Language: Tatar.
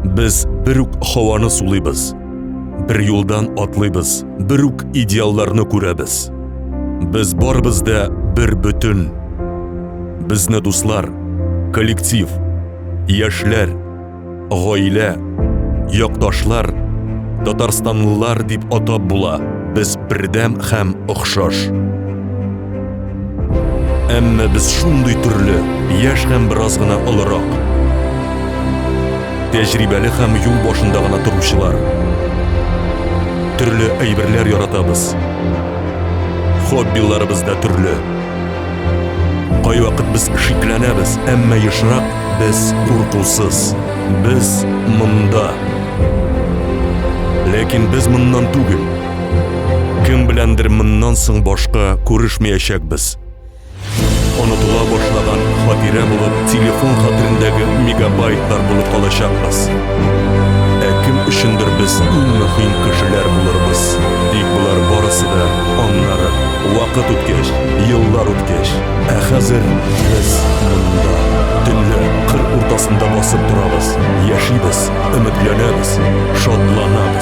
Без бер үк һаваны сулыйбыз. Бер юлдан атлыйбыз, бер үк идеалларны күрәбез. Без барыбыз да бер бөтен. Безне дуслар, коллектив, яшьләр, гаилә, якташлар, татарстанлылар дип атап була. Без бердәм һәм охшаш. Әмма без шундый төрле, яшь һәм бераз гына олырак. Тәҗрибәле һәм юл башында гына торучылар. Төрле әйберләр яратабыз. Хоббиларыбыз да төрле. Кайвакыт без шикләнәбез, әмма ешрак без куркусыз. Без монда. Ләкин без моннан түгел. Кем беләндер моннан соң башка күрешмәячәкбез. Онытыла башлаган хатирә булып телефон хәтерендәге мегабайтлар булып калачакбыз. Ә кем өчендер без иң мөһим кешеләр булырбыз. Тик болар барысы да аннары вакыт үткәч, еллар үткәч, ә хәзер без монда төнлә кыр уртасында басып торабыз, яшибез, өметләнәбез, шатланабыз.